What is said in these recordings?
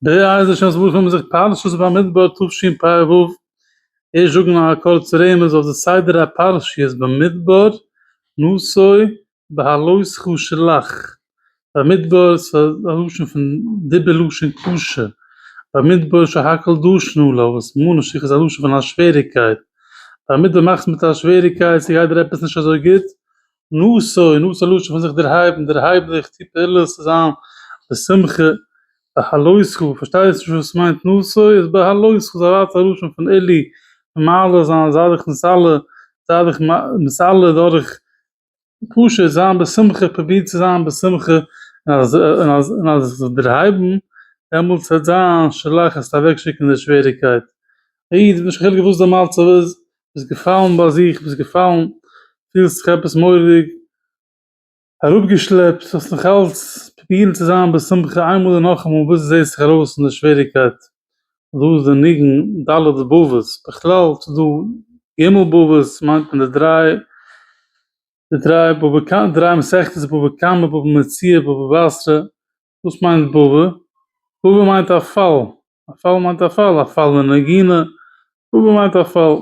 דער אייזיש אז וואס האבן זיך פרשת במדבר תשפ א ערוב איר זאגן א קורץ רמז אויף די סדר הפרשיות במדבר נשוי בהעלות חו שלח במדבר ס'איז א לשון פון דיבור לשון קשה במדבר שהכל דשנו לו וואס מנוש איך איז א לשון פון א שוועריקייט במדבר מאכסט מיט א שוועריקייט ס'גייט דיר עפעס נישט אזוי גוט נשא און נשא לשון פון זיך דערהייבן, דערהייב דיך, טו פעולות צו זיין בשמחה, בהלותך, פארשטייסט נישט וואס מיינט נשא, איז בהלותך איז א ווייטער לשון פון עלי', פון מעלה זיין, זיי דיך מסלף, זיי דיך מסלף דורך פשוט זיין בשמחה, פרוביר צו זיין בשמחה, און אז עס זאל דערהייבן, דעמאלטס וועט זיין שלח, עס וועט אוועקשיקן די שוועריקייט. א איד, נישט קיין חילוק וואס די מצב איז, ביסט געפאלן ביי זיך, ביסט געפאלן, פילסט זיך עפעס מורא'דיג אראפגעשלעפט, האסט נאכאלץ פרובירן צו זיין בשמחה איינמאל און נאכאמאל ביז דו זעסט זיך ארויס פון די שוועריגקייט, דא איז די ניגון ד' בבות, בכלל ס'איז דא ג' בבות, ס'מיינט מען די דריי, די דריי בבא קמא, דריי מסכתות בבא קמא, בבא מציעא, בבא בתרא, וואס מיינט בובא? בובא מיינט א פאל, א פאל מיינט א פאל, א פאל אין נגינה, בובא מיינט א פאל.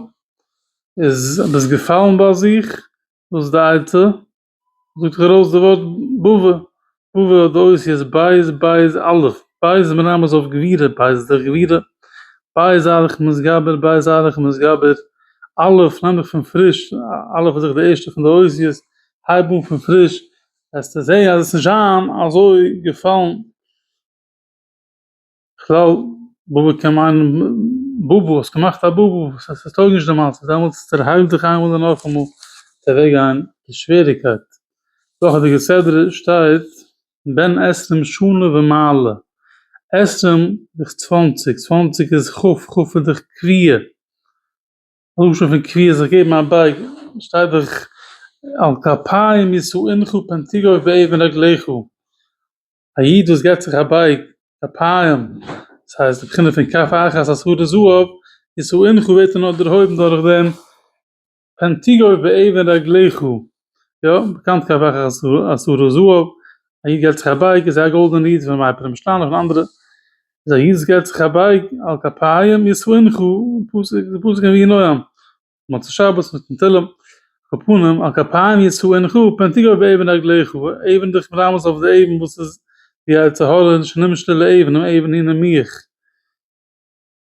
איז ביסט געפאלן ביי זיך, וואס איז די עצה? זאגט זיך ארויס די ווארט בובא, בובא האט די אותיות בית בית אלף, בית איז מרמז אויף גבירה, בית איז דאך גבירה, בית איז אלף מתגבר, בית איז אלף מתגבר, אלף נעם איך פון פריש, אלף איז דאך די ערשטע פון די אותיות, הייב אן פון פריש, וועסטו זעהן אז עס איז נישט זיין אזוי געפאלן כלל בבא קען מיינען בבא האסט געמאכט א בבא עס טויג נישט די מצב דעמאלטס דערהייל דיך איינמאל און נאכאמאל וועט אוועק גיין די שוועריקייט דאך אין די כסדר שטייט בן עשרים שנה ומעלה עשרים איז צוואנציג צוואנציג איז ח ח איז די קביעה. לשון פון קביעות זיך געבן א בייג, שטייט דאך על כפיים ישאינך פן תגעו באבן רגליך, א איד וואס געבט זיך א בייג, כפיים, דאס הייסט די בחינה פון כף אחת עשרה זהב, ישאינך ווערט ער נאר דערהויבן דורכדעם, פן תגעו באבן רגליך, יא, באקאנט כ ו אז הרה ז אב ד היד געלט זיך א בייג איז ער א גאלדענע איד פון מייפעלע משטאנען און אנדערע איז א יז ס געלט זיך א בייג על כפיים ישמחו פסוק די פסוק אין ויהי נועם מוצאי שבת מיטן תהלים על פנים על כפיים ישמחו פן תגע באבן רגליך אבן דיך מרמז אויף די אבן וואס איז די יצר הרע שנמשל לאבן און אבן הנה מיך.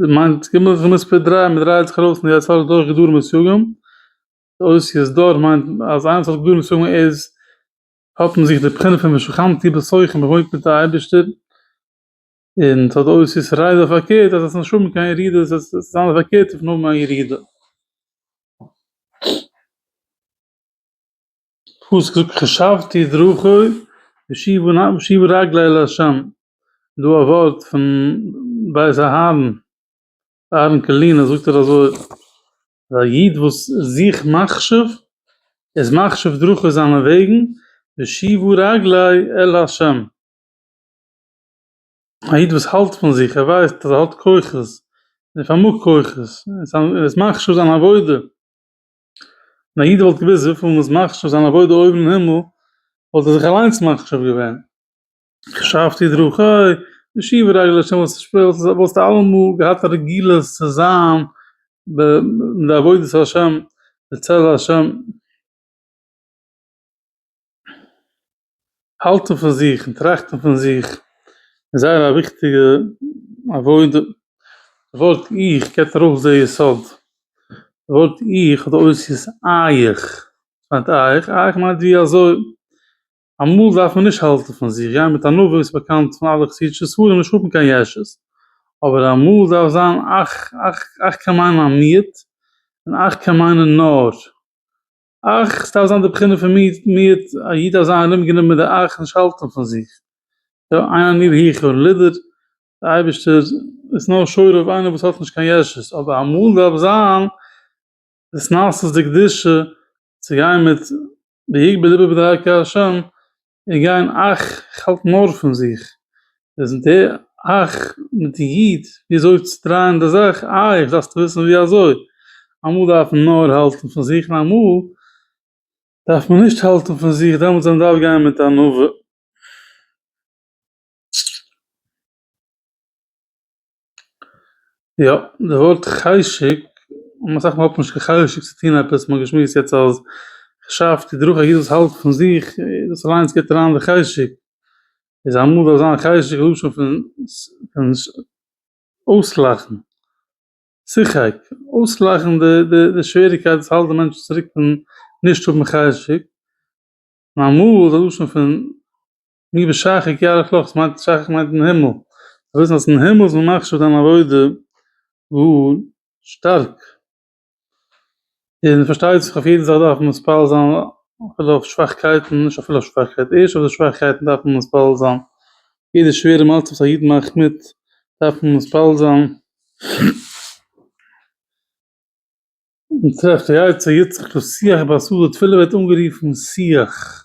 דער מאנט איז געמוזט זיך מספר דרײַ, מען דרייעט זיך ארויס אין יצה ר דורך גדרים און סייגים, אות יז ד מיינט אז איינער וואס האט גדרים און סייגים איז האט אין זיך די בחינה פון ושכנתי בתוכם מען וואוינט מיט די אייבערשטער, און ס'האט די אות יז ר רייד אויף פארקערט אז עס איז נישט האבן קיין ירידה עס איז זיין די פארקערטע פון האבן א ירידה. פסוק חשבתי דרכי ושובו רגלי אל ה' דא א ווארט פון בית אהרן אהרן קאלינער זאגט ער אזוי א איד וואס זוכט מחשב איז מחשב דרכי זיינע וועגן ושובו רגלי אל ה' א איד וואס האלט פון זיך ער ווייסט אז ער האט כוחות ער פארמאגט כוחות ער איז מחשב זיין עבודה ווען א איד וואלט געוואוסט וויפיל מ'איז מחשיב זיין עבודה אויבן אין הימל, וואלט ער זיך אליינס מחשיב געווען. חשבתי דרכי, משיב רגל ה' וואס שפילסט, וואלסטו אלעמאל געהאט א רגילות צו זיין בעבודת השם, בצל השם. האלטן פון זיך און טראכטן פון זיך איז זייער א וויכטיגע עבודה, די ווארט איך געבט ארויס די יסוד, די ווארט איך האט די אותיות אייך, וואס מיינט אייך? אייך מיינט ווי אזוי, אמאל דארף מען נישט האלטן פון זיך, גיין מיט ענווה איז באקאנט פון אלע חסידישע ספרים נישט האבן קיין יש ש, אבער אמאל דארף זיין אייך, אייך, אייך קען מיינען א מיעוט, און אייך קען מיינען נאר. אך עס דארף זיין די בחינה פון מיעוט, א איד דארף זיין ארומגענומען מיט די איך, נישט האלטן פון זיך, יא איין עני היכר לידער, דער אייבערשטער איז נאר שורה אויף איינער וואס האט נישט קיין ישות, אבער אמאל דארף זיין התנשאות דקדושה צו גיין מיט ויגבה לבו בדרכי ה', און גיין אייך, איך האלט נאר פון זיך, פרעזענטיר אייך מיט די איד ווי אזוי צו דרייען די זאך, אייך דארפסטו וויסן ווי אזוי, אמאל דארף מען נאר האלטן פון זיך און אמאל דארף מען נישט האלטן פון זיך, דעמאלטס וועט מען דארף גיין מיט ענווה. יא, די ווארט חשק, און אסאך מאל האט נישט קיין חשק צו טון עפעס, מ'האט געשמועסט יעצט אז כ'שאף די דרוך א איד וואס האלט פון זיך, דאס אליינס גיבט אריין די חשק, איז אמאל זאל זיין חשק לשון פון אויסלאכן, צוחק, אויסלאכן די די די שוועריקייט וואס האלט די מענטשן צוריק פון נישט האבן חשק, נארמאל איז א לשון פון. מי בשחק יערך לך, שחק מיינט אין הימל, זאלסט וויסן אז אין הימל איז מען מחשיב דיין עבודה גאר שטארק, און פארשטייט זיך אויף יעדן זאך דארף מען מתפלל זיין אפילו אויף שוואכקייטן, נישט אפילו אויף שוואכקייטן, ערשט אויף די שוואכקייטן דארף מען מתפלל זיין, יעדע שווערע מצב וואס א איד מאכט מיט דארף מען מתפלל זיין, מען טרעפט די עצה יצחק לשיח בעשו, די תפילה ווערט אנגערופן שיח.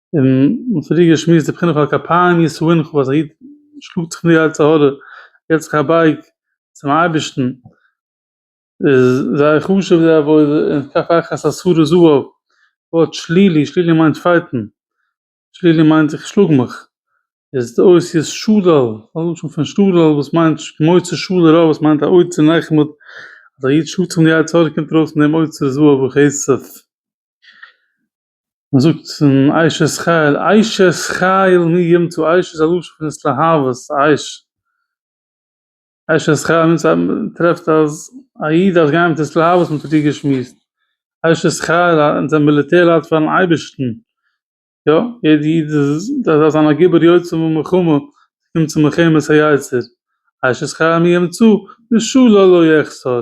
און פריער געשמועסט די בחינה פון כפיים ישא און כ'האב אז א איד שלאגט זיך מיר יצר הרע געבט זיך א בייג צום אייבערשטן איז זייער חשוב די עבודה און כף אחיך עשרה זהב ווארט שלילי, שלילי מיינט פייטן, שלילי מיינט איך שלאג מיך, איז די אות יז שלל, א לשון פון שלל וואס מיינט מוצא שלל רע וואס מיינט א אוצר נחמד, אז א איד שלאגט זיך מיט די יצר הרע קומט ארויס פון דעם אוצר זהב וכסף. מען זאגט אין אשת חיל אשת חיל מי ימצא אש איז א לשון פון התלהבות אש אשת חיל מיינט אז מען טרעפט אז א איד דארף גיין מיט התלהבות מען האט מיט איר געשמועסט אשת חיל אונז זענען מיליטער לייט פארן אייבערשטן יא יעדע איד דארף זיין א גיבור יוצא ממלחמה קומט צו מלחמת היצר אשת חיל מי ימצא משהוא לו לא יחסר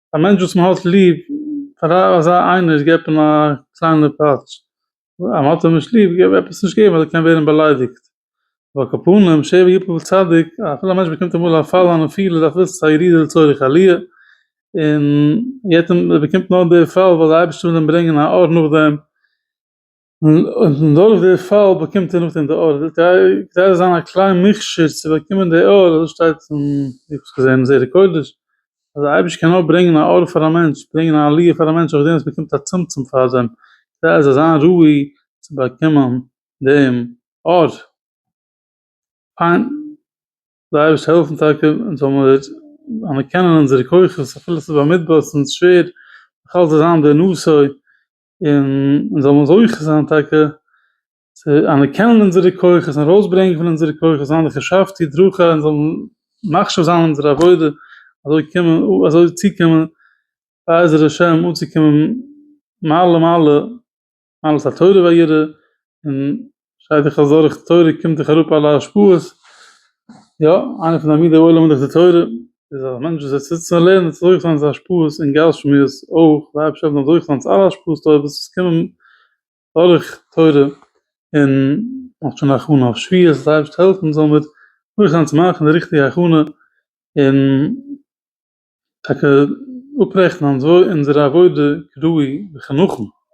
א מענטש וואס מען האט ליב, פאר אזא איינער געבט מען א קליינע פאטש, אז מען האט אים נישט ליב געב עפעס נישט געבן אז ער קען ווערן באליידיגט, ועל כפנים שבע יפול צדיק, אפילו א מענטש באקומט אמאל א פאל אן א פיל איז אפילו עס איז א ירידה לצורך עליה, און ער באקומט נאר די פאל ווייל די אייבערשטער וויל אים ברענגען א אור נאכדעם, און דורך די פאל באקומט ער נאכדעם די ארדער, גייט ער זיין א קליין מכשיר צו באקומען די אור, אזוי שטייט אין איך האב עס געזען אין זרע קודש, אז די אייבערשטער קען נאר ברענגען א אור פאר א מענטש, ברענגען א עליה פאר א מענטש אויף דעם וואס באקומט א צמצום פארדעם, כדי ער זאל זיין ראוי צו באקומען דעם אור. פיין, זאל די אייבערשטער העלפן טאקע אונז זאל מיר אנערקענען אונזערע כוחות אפילו עס איז במדבר, עס איז אונז שווער, נאכאלץ זיין די נשוא און אונז זאלן זוכה זיין טאקע צו אנערקענען אונזערע כוחות און ארויסברענגען פון אונזערע כוחות זיין די חשבתי דרכי און זאלן מחשיב זיין אונזערע עבודה אזוי קומען אזוי צוקומען בעזר השם אנצוקומען מעלה מעלה מעלת התורה והיראה און שרייט דיך אז דורך תורה קומט דיך אראפ אלע השפעות, יא, איינע פון די עמודי עולם דורך די תורה איז א מענטש וואס זיצט זיצט און לערנט זיך דורך זיינע השפעות און גשמיות אויך, די אייבערשטער האט אים דורך געלאזט אלע השפעות טובות וואס קומען דורך תורה, און מאכט שוין הכנה אויף שביעית, אז די אייבערשטער זאל העלפן זאלן מיר דורך זיין צו מאכן די ריכטיגע הכנה, און טאקע אפרעכטן אונזערע עבודה כראוי וכנהוג.